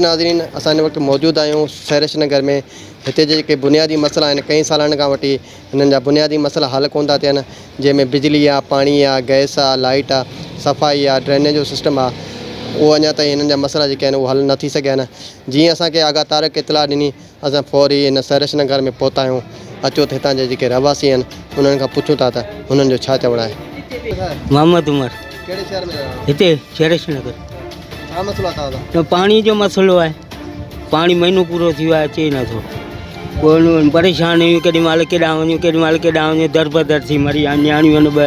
ناظرين اسان هن وقت موجود آهيون سهرش نگر ۾ هتي جي جيڪي بنيادي مسئلا آهن ڪئين سالن کان وٺي هنن جا بنيادي مسئلا حل ڪون ٿا ٿين جنهن ۾ بجلي آهي پاڻي آهي گئس آهي لائيٽ آهي صفائي آهي ڊرينيج جو سسٽم آهي اهو اڃا تائين هنن جا مسئلا جيڪي آهن اهو حل نه ٿي سگهيا آهن جيئن اسانکي آغا طارق اطلاع ڏني اسان فوري ان سرش نگر ۾ پهتا آهيون. اچو ته هتان جا جيڪي رهواسي آهن، انهن کان پڇون ٿا ته هنن جو ڇا چوڻ آهي. محمد عمر. ڪهڙي شهر ۾ رهو؟ هتي سرش نگر. ڇا مسئلو آهي توهان سان؟ پاڻي جو مسئلو آهي. پاڻي مهينو پورو ٿي ويو آهي اچي ئي نه ٿو. پوء پريشان آهيون ڪيڏي مهل ڪيڏانهن وڃون ڪيڏي مهل ڪيڏانهن وڃون دربدر ٿي مري ويا نياڻيون آهن ٻه.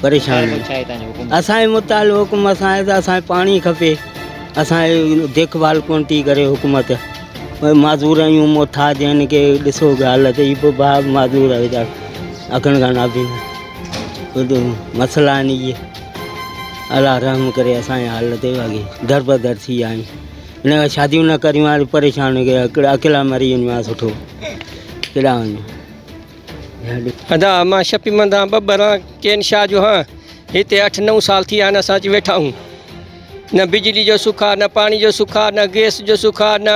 پريشان آهن اسان جي مطالبو حڪم اسان آهي ته اسان کي پاڻي کپي اسان جي ديک ڀال ڪون ٿي ڪري حڪومت معذور آهيون محتاج آهن ڪي ڏسو حالت هي به ڀاء معذور آهي ويچارا اکن کان نابينا مسئلا آهن اهي الله رحم ڪري اسان جي حال تي اڳي در بدر ٿي ويا آهيون ان کان شاديون نه ڪريون هاڻي پريشان ڪيا ڪهڙا اڪيلا مري وڃون هاڻي سٺو ڪيڏانهن وڃون ادا مان شپي مندان ٻٻران ڪين شاھ جو ھان ھتي اٺ نو سال ٿي ھان اسان اچي ويٺا ھون نه بجلي جو سک آ نه پاڻي جو سک آ نه گيس جو سک آ نه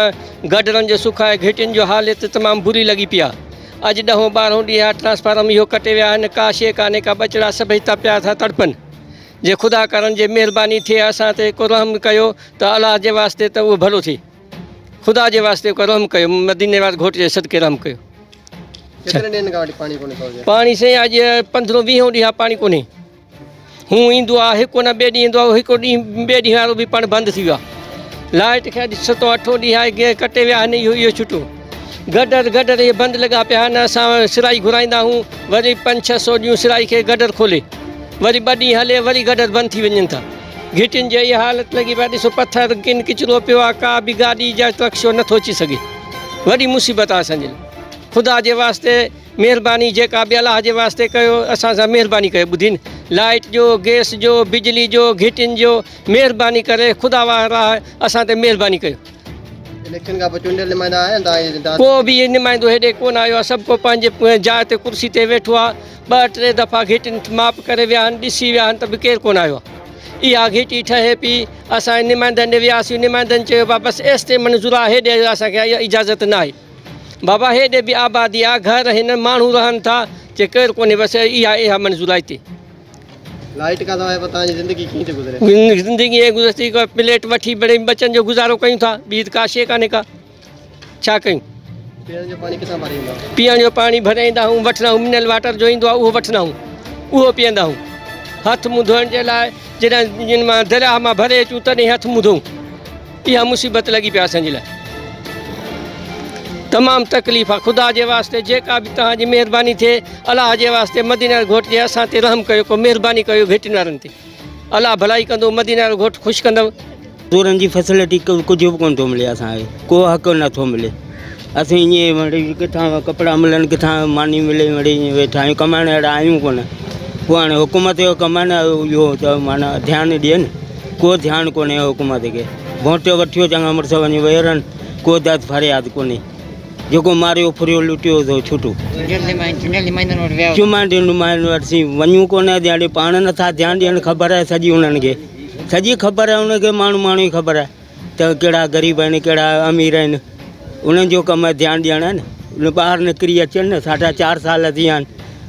گڊرن جو سک آھي گھٽين جو حالت تمام بري لڳي پي آ اڄ ڏهون ٻارهون ڏينهن آ ٽرانسفارم اھو ڪٽي ويا آھن ڪا شيء ڪانھي ڪا ٻچڙا سڀئي تپيا ٿا تڙپن جي خدا ڪرڻ جي مھرباني ٿئي اسان تي ڪو رحم ڪيو ته الله جي واسطي ته اھو ڀلو ٿئي. خدا جي واسطي ڪو رحم ڪيو مديني واري گھوٽ جي صدقي رحم ڪيو ڇڏ پاڻي سين اڄ 15 20 ڏينهن پاڻي ڪونهي هو ايندو آ هڪ نه ٻي ڏينهن ايندو آ هڪ ڏينهن ٻي ڏينهن وارو به پاڻي بند ٿي ويو آ لائٽ کي اڄ ستو اٺو ڏينهن آهي ڪي ڪٽي ويا آهن اهو اهو ڇٽو گڊر گڊر اهي بند لڳا پيا آهن اسان سرائي گھرائيندا آهيون وري 5 600 ڏيون سرائي کي گڊر کولي وري ٻه ڏينهن هلي وري گڊر بند ٿي وڃن ٿا گهٽين جي اها حالت لڳي پئي آ ڏسو پٿر ڪن ڪچرو پيو آ ڪا به گاڏي جا ٽرڪ شو نٿو اچي سگهي وڏي مصيبت آ اسان جي لاء خدا جي واسطي مهرباني جيڪا به الله جي واسطي ڪيو اسان سان مهرباني ڪيو ٻڌي نه لائٽ جو گئس جو بجلي جو گهٽين جو مهرباني ڪري خدا واه راه اسان تي مهرباني ڪيو. اليڪشن کان پوء چونڊيل نمائندا آيا آهن تان جي داد؟ ڪو به نمائندو هيڏي ڪونه آيو آ سڀ ڪو پنهنجي جاء تي ڪرسي تي ويٺو آ. ٻه ٽي دفعا گهٽين ماپ ڪري ويا آهن ڏسي ويا آهن ته به ڪير ڪونه آيو آهي اها گهٽي ٺهي پي اسان نمائندن ڏي وياسي نمائندن چيو بابا بس ايستي منظور آهي هيڏي اسان کي اجازت نه آهي بابا هيڏي به آبادي آ گهر هن ماڻهو رهن ٿا چي ڪير ڪونهي بس اها اها منظور آهي تي لائيٽ کان سواء پتان جي زندگي ڪيئن ٿي گذري زندگي اي گذري ٿي پليٽ وٺي بڙي بچن جو گذارو ڪيون ٿا ٻي ته ڪا شي ڪانهي ڪا ڇا ڪيون؟ پيئڻ جو پاڻي ڪٿان ڀري ايندا آهيون؟ پيئڻ جو پاڻي ڀري ايندا آهيون وٺندا آهيون منرل واٽر جو ايندو آهي اهو وٺندا آهيون اهو پيئندا آهيون هٿ منهن ڌوئڻ جي لاء جڏهن مان درياهه مان ڀري اچون تڏهن هٿ منهن ڌوئون اها مصيبت لڳي پيا اسان جي لاء تمام تڪليف آ خدا جي واسطي جيڪا به توهان جي مهرباني ٿئي الله جي واسطي مدينه گهوٽ جي اسان تي رحم ڪيو ڪو مهرباني ڪيو گهٽين وارن تي الله ڀلائي ڪندو مديني وارو گهوٽ خوش ڪندو. چورن جي فيسلٽي ڪجهه به ڪونه ٿو ملي اسان کي ڪو حق نه ٿو ملي اسين ائين مڙي ڪٿان ڪپڙا ملن ڪٿان ماني ملي مڙي ائين ويٺا آهيون ڪمائڻ اهڙا آهيون ڪونه پوء هاڻي حڪومت جو ڪم آهي نه اهو ته معنيٰ ڌيان ڏئي نه ڪو ڌيان ڪونهي حڪومت کي گهوٽ وٺيو چڱا مڙس وڃي ويهرن ڪو داد فرياد ڪونهي جيڪو ماريو ڦريو لٽيو سو ڇٽو. چمانڊين نمائندن وٽ سين وڃون ڪونه اڄ هاڻي پاڻ نٿا ڌيان ڏين خبر آهي سڄي انهن کي سڄي خبر آهي انهن کي ماڻهو ماڻهو جي خبر آهي ته ڪهڙا غريب آهن ڪهڙا امير آهن انهن جو ڪم آهي ڌيان ڏيڻ آهي نه ٻاهر نڪري اچن نه ساڍا چار سال ٿي ويا آهن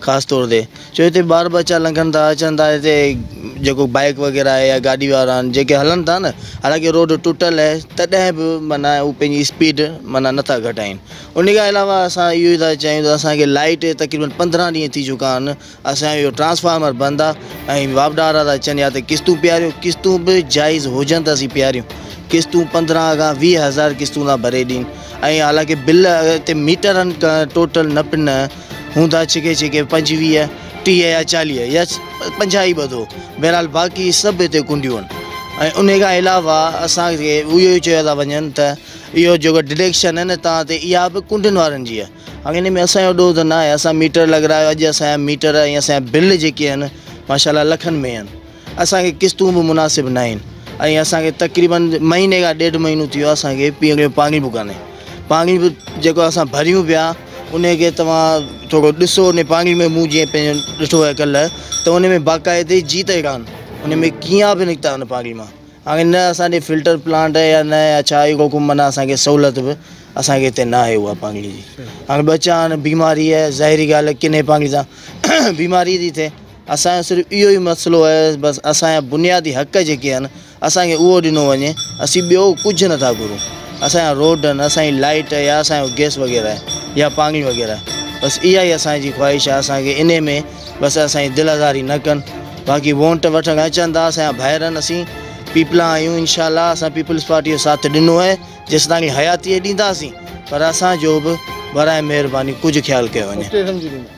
خاص طور تي جو هتي ٻار ٻچا لنگهن ٿا اچن ٿا هتي جيڪو بائيڪ وغيره آهي يا گاڏي وارا آهن جيڪي هلن ٿا نه حالانڪه روڊ ٽٽل آهي تڏهن به معنيٰ هو پنهنجي اسپيڊ معنيٰ نٿا گهٽائين ان کان علاوه اسان اهو ئي ٿا چاهيون ته اسانکي لائيٽ تقريبن پندرهن ڏينهن ٿي چڪا آهن اسانجو اهو ٽرانسفارمر بند آهي ۽ واپڊارا ٿا اچن يا ته قسطون پياريو قسطون به جائز هجن ته اسين پياريون قسطون پندرهن کان ويهه هزار قسطون ٿا ڀري ڏين ۽ حالانڪه بل هتي ميٽرن ٽوٽل نه پنهن هوندا ڇڪي ڇڪي پنجويهه، ٽيهه يا چاليهه يا پنجاهه ئي ٻڌو، بهرحال باقي سڀ هتي ڪنڊيون آهن ۽ انهي کان علاوه اسان کي اهو ئي چيو ٿا وڃن ته اهو جيڪو ڊڊيڪشن آهي نه توهان تي اها به ڪنڊين وارن جي آهي. هاڻي انهي ۾ اسان جو ڏوهه ته ناهي، اسان ميٽر لڳرايو، اڄ اسان جا ميٽر ۽ اسان جا بل جيڪي آهن ماشاءالله لکن ۾ آهن، اسان کي قسطون به مناسب ناهن ۽ اسان کي تقريباً مهيني کان ڏيڍ مهينو ٿي ويو اسان کي پيئڻ جو پاڻي به ڪانهي پاڻي به جيڪو اسان ڀريون پيا ان کي توهان ٿورو ڏسو ان پاڻي ۾ مون جيئن پنهنجو ڏٺو آهي ڪلر ته ان ۾ باقاعدي جيت ئي ڪانه ان ۾ ڪيا به نڪتا ان پاڻي مان هاڻي نه اسان ڏي فلٽر پلانٽ آهي يا نه يا ڇا اهو ڪو معنيٰ اسان کي سهولت به اسان کي هتي نه آهي اها پاڻي جي هاڻي ٻچا آهن بيماري آهي ظاهري ڳالهه ڪني پاڻي سان بيماري ٿي ٿئي اسان جو صرف اهو ئي مسئلو آهي بس اسان جا بنيادي حق جيڪي آهن اسان کي اهو ڏنو وڃي اسين ٻيو ڪجهه نٿا گهرون اسان جا روڊ آهن اسان جي لائيٽ يا اسان جو گيس وغيره آهي يا پاڻي وغيره آهي بس اها ئي اسان جي خواهش آهي اسان کي انهي ۾ بس اسان جي دل آزاري نه ڪن باقي وونٽ وٺڻ اچن ٿا اسان جا ڀائر آهن اسين پيپلا آهيون انشاء الله اسان پيپلز پارٽي جو ساٿ ڏنو آهي جيستائين حياتي ڏينداسين پر اسان جو به برائي مهرباني ڪجهه خيال ڪيو وڃي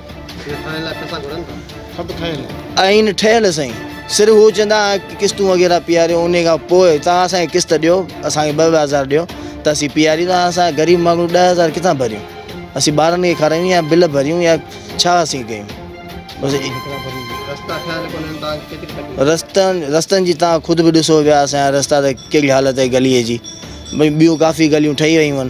آئين ٺهيل سائين صرف هو چوندا قسطون وغيره پياريو انهي کان پوء توهان اسان کي قسط ڏيو اسان کي ٻه ٻه هزار ڏيو ته اسين پياريندا اسان غريب ماڻهو ڏهه هزار ڪٿان ڀريون اسين ٻارن کي کارائيون يا بل ڀريون يا ڇا اسين ڪيون رستن رستن جي تان خود به ڏسو پيا اسان جا رستا ته ڪهڙي حالت آهي گلي جي ٻيون ڪافي گليون ٺهي ويون آهن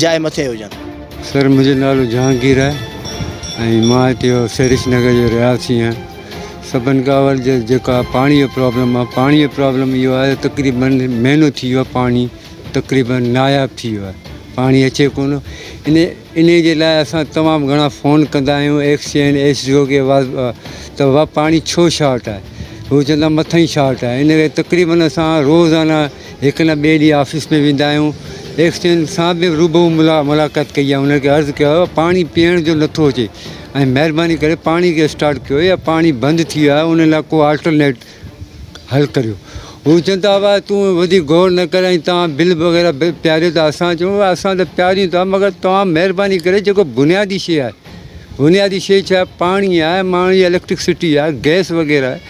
جاء مٿي هجن. سر منهنجو نالو جهانگير آهي ۽ مان هتي سريش نگر جو رهايسي آهيان سڀن کان اول جيڪا پاڻي جو پرابلم آهي پاڻي جو پرابلم اهو آهي تقريبن مهينو ٿي ويو آهي پاڻي تقريبن ناياب ٿي ويو آهي پاڻي اچي ڪو نه ان ان جي لاء اسان تمام گهڻا فون ڪندا آهيون ايڪسين ايس ڊي او کي ته اها پاڻي ڇو شارٽ آهي هو چوندا مٿئين شارٽ آهي ان ڪري تقريبن اسان روزانه هڪ نه ٻئي ڏينهن آفيس ۾ ويندا آهيون. ايڪسچينج سان به روبرو ملاقات ڪئي ۽ انهن کي عرض ڪيو آهي پاڻي پيئڻ جو نٿو اچي ۽ مهرباني ڪري پاڻي کي اسٽارٽ ڪيو يا پاڻي بند ٿي ويو آهي ان لاء ڪو آلٽرنيٽ حل ڪريو. هو چون ٿا ابا تون وڌيڪ غور نه ڪر ۽ توهان بل وغيره به پياريو ٿا اسان چون ٿا اسان ته پياريون ٿا مگر توهان مهرباني ڪري جيڪو بنيادي شيء آهي بنيادي شيء ڇا پاڻي آهي ماڻهو جي اليڪٽرڪ سٽي آهي گئس وغيره آهي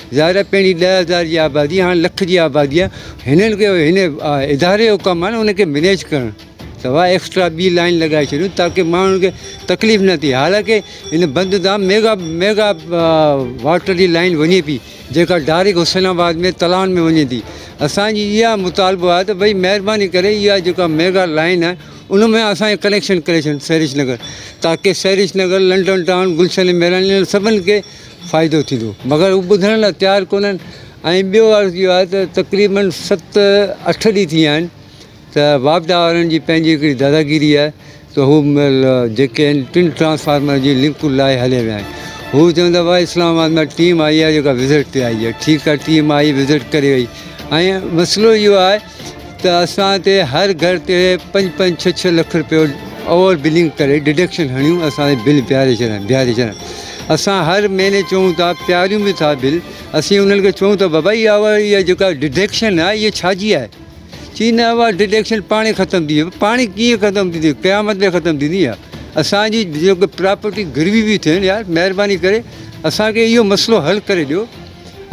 ظاهر آهي پهرين ڏهه هزار جي آبادي هاڻي لک جي آبادي آهي هنن کي هن اداري جو ڪم آهي نه ان کي مينيج ڪرڻ سواء ايڪسٽرا ٻي لائن لڳائي ڇڏيو تاڪي ماڻهن کي تڪليف نه ٿئي حالانڪه هن بند تان ميگا ميگا واٽر جي لائن وڃي پئي جيڪا ڊائريڪٽ حسين آباد ۾ تلان ۾ وڃي ٿي اسانجي اها مطالبو آهي ته ڀئي مهرباني ڪري اها جيڪا ميگا لائن آهي ان ۾ اسانجي ڪنيڪشن ڪري ڇڏ سريش نگر تاڪي سريش نگر لنڊن ٽائون گلشن ميران سڀني کي فائدو ٿيندو مگر هو ٻڌڻ لاء تيار ڪونهن ۽ ٻيو عرض اهو آهي ته تقريباً ست اٺ ڏينهن ٿي ويا آهن ته واپڊا وارن جي پنهنجي هڪڙي داداگيري آهي ته هو جيڪي آهن ٽن ٽرانسفارمر جي لنڪون لاهي هليا ويا آهن هو چون ٿا ڀاء اسلام آباد مان ٽيم آئي آهي جيڪا وزٽ تي آئي آهي ٺيڪ آهي ٽيم آئي وزٽ ڪري وئي ۽ مسئلو اهو آهي ته اسان تي هر گهر تي پنج پنج ڇهه ڇهه لک رپيو اوور بلنگ ڪري ڊڊڪشن هڻيون اسان جي بل بيهاري ڇڏن بيهاري ڇڏن اسان هر مهيني چئون ٿا پياريون به ٿا بل اسين انهن کي چئون ٿا بابا اها اها جيڪا ڊڊڪشن آهي اها ڇا جي آهي چي نه اها ڊڊڪشن پاڻي ختم ٿي ويندي پاڻي ڪيئن ختم ٿيندي قيامت ۾ ختم ٿيندي اها اسان جي جيڪو پراپرٽي گروي بي ٿين يار مهرباني ڪري اسان کي اهو مسئلو حل ڪري ڏيو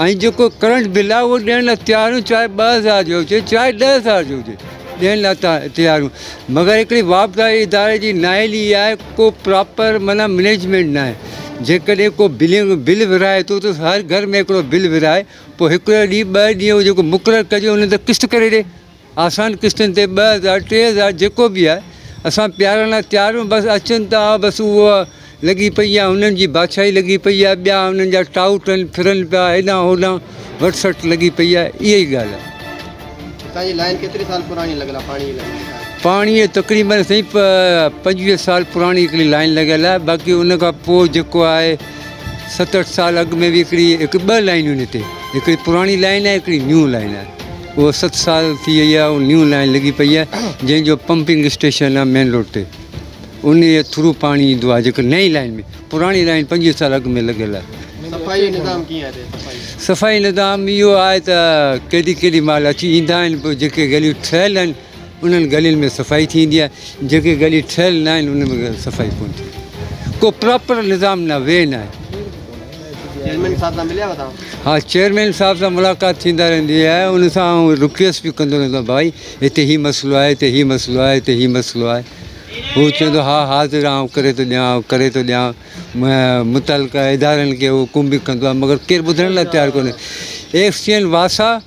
۽ جيڪو ڪرنٽ بل آهي اهو ڏيڻ لاء تيار آهيون چاهي ٻه هزار جو هجي چاهي ڏهه هزار جو هجي ڏيڻ لاء تيار آهيون مگر هڪڙي واپداري اداري جي نااهلي اها آهي ڪو پراپر معنيٰ مئنيجمينٽ ناهي جيڪڏهن ڪو بلنگ بل ورهائي ٿو ته هر گهر ۾ هڪڙو بل ورهائي پوء هڪڙو ڏينهن ٻه ڏينهن جيڪو مقرر ڪجي ان تي قسط ڪري ڏي آسان قسطن تي ٻه هزار ٽي هزار جيڪو به آهي اسان پيارڻ لاء تيار آهيون بس اچن ته آ بس اهو لڳي پئي آهي هنن جي بادشاهي لڳي پئي آهي ٻيا هنن جا ٽائوٽ آهن ڦرن پيا هيڏانهن هوڏانهن وٽ سٽ لڳي پئي آهي اهي ئي ڳالهه آهي. هتان جي لائين ڪيتري سال پراڻي لڳل آهي پاڻي جي لائين جيڪا آهي. پاڻي جي تقريبن سائين پنجويهه سال پراڻي هڪڙي لائين لڳل آهي باقي ان کان پوء جيڪو آهي ست اٺ سال اڳ ۾ به هڪڙي هڪ ٻه لائينون هن تي هڪڙي پراڻي لائين آهي هڪڙي نيون لائين آهي. اهو ست سال ٿي وئي آهي ۽ نيون لائين لڳي پئي آهي جنهن جو پمپنگ اسٽيشن آهي مين روڊ تي انهي جي ٿرو پاڻي ايندو آهي جيڪو نئين لائين ۾ پراڻي لائين پنجويهه سال اڳ ۾ لڳل آهي. صفائي نظام ڪيئن آهي هتي صفائي. صفائي نظام اهو آهي ته ڪيڏي ڪيڏي مهل اچي ايندا آهن پوء جيڪي گليون ٺهيل آهن انهن گلين ۾ صفائي ٿيندي آهي جيڪي گلي ٺهيل نه آهن انهن ۾ صفائي ڪونه ٿيندي ڪو پراپر نظام نه وي نه آهي. چيئرمين صاحب سان مليا هئا توهان؟ ها چيئرمين صاحب سان ملاقات ٿيندا رهندي آهي ان سان آئون رڪويسٽ به ڪندو رهندو آهيان ڀائي هتي هي مسئلو آهي هتي هي مسئلو آهي هتي هي مسئلو آهي هو چوندو ها حاضر آئون ڪري ٿو ڏيان آئون ڪري ٿو ڏيان متعلقه ادارن کي حڪم به ڪندو آهي مگر ڪير ٻڌڻ لاء تيار ڪونهي ايف سي اين واسا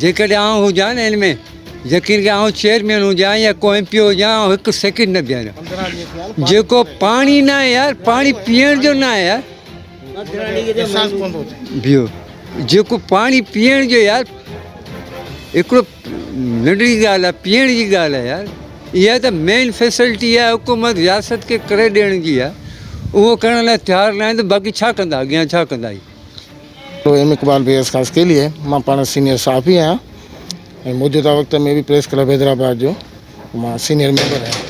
جيڪڏهن آئون هجان نه ان ۾ يقين ڪر آئون چيئرمين هجان يا ڪو ايم پي او هجان آئون هڪ سيڪنڊ نه بيهاريان جيڪو پاڻي ناهي يار پاڻي پيئڻ جو ناهي يار بيهو جيڪو پاڻي پيئڻ جو يار هڪڙو ننڍڙي ڳالهه آهي پيئڻ جي ڳالهه آهي يار اها ته مين فيسلٽي آهي حڪومت رياست کي ڪري ڏيڻ جي آهي اهو ڪرڻ لاء تيار ناهن ته باقي ڇا ڪندا اڳيان ڇا ڪندا اهي ايم اقبال بي ايس خاص ڪي ليئي مان پاڻ سينيئر صحافي آهيان ۽ موجوده وقت ۾ به پريس ڪلب حيدرآباد جو مان سينيئر ميمبر آهيان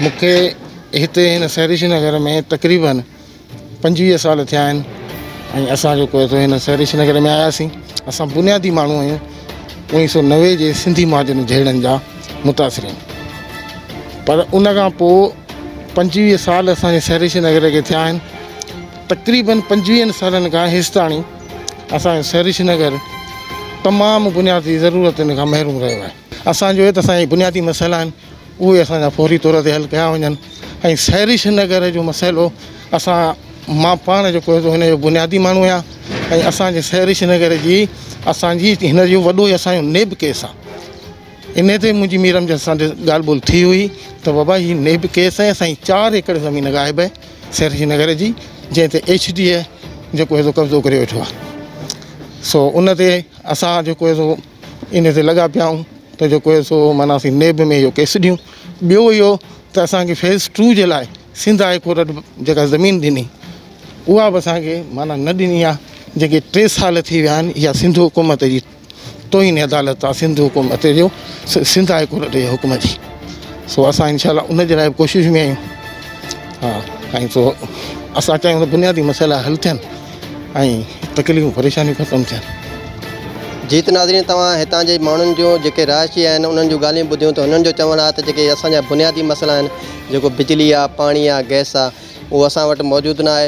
مون کي هتي هن سهريشي نگر ۾ تقريبن پنجويهه سال ٿيا آهن ۽ اسان جيڪو اٿو هن سهريشي نگر ۾ آياسين اسان بنيادي ماڻهو آهيون اوڻيهه سو نوي جي سنڌي مهاجرن جهيڙن جا متاثرين پر ان کان پوء پنجويهه سال اسانجي سهريشي نگر کي ٿيا آهن تقريبن پنجويهن سالن کان هيستاڻي اسان جو سريش نگر تمام بنيادي ضرورتن کان محروم رهيو آهي. اسان جو هت اسان جي بنيادي مسئلا آهن اهي اسان جا فوري طور تي حل ڪيا وڃن ۽ سريش نگر جو مسئلو اسان مان پاڻ جيڪو هتو هن جو بنيادي ماڻهو آهيان ۽ اسان جي سريش نگر جي اسان جي هن جو وڏو هي اسان جو نيب ڪيس آهي انهي تي منهنجي مير امجد سان ڳالهه ٻولهه ٿي هئي ته بابا هي نيب ڪيس آهي اسان جي چار ايڪڙ زمين غائب آهي سري نگر جي جنهن تي ايڇ ڊي اي جيڪو هي سو قبضو ڪري ويٺو آهي سو ان تي اسان جيڪو هي سو ان تي لڳا پيا آهيون ته جيڪو هي سو معنيٰ اسين نيب ۾ اهو ڪيس ڏيون ٻيو اهو ته اسانکي فيز ٽو جي لاء سنڌ هاء ڪورٽ جيڪا زمين ڏني اها به اسانکي معنيٰ نه ڏني آهي جيڪي ٽي سال ٿي ويا آهن اها سنڌ حڪومت جي توهين عدالت آ سنڌ حڪم اتي جو سنڌ هاء ڪورٽ جي حڪم جي سو اسان انشاء الله ان جي لاء به ڪوشش ۾ آهيون ها ۽ سو اسان چاهيون ته بنيادي مسئلا حل ٿين ۽ تڪليفون پريشانيون ختم ٿين جيت ناظرين توهان هتان جي ماڻهن جون جيڪي رهائشي آهن انهن جون ڳالهيون ٻڌيون ته انهن جو چوڻ آهي ته جيڪي اسان جا بنيادي مسئلا آهن جيڪو بجلي آهي پاڻي آهي گئس آهي اهو اسان وٽ موجود نه آهي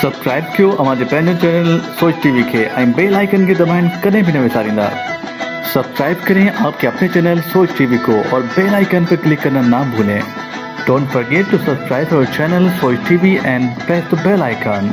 سبسڪرائب ڪيو اوهان جي پنهنجو چينل سوچ ٽي وي کي ۽ بيل آئيڪن کي دٻائڻ ڪڏهن به نه وساريندا سبسڪرائب ڪرين آپ ڪي اپني چينل سوچ ٽي وي ڪو اور بيل آئيڪن پي ڪلڪ ڪرنا نا ڀولين ڊونٽ فرگيٽ ٽو سبسڪرائب اور channel Soch T V and press the bell icon.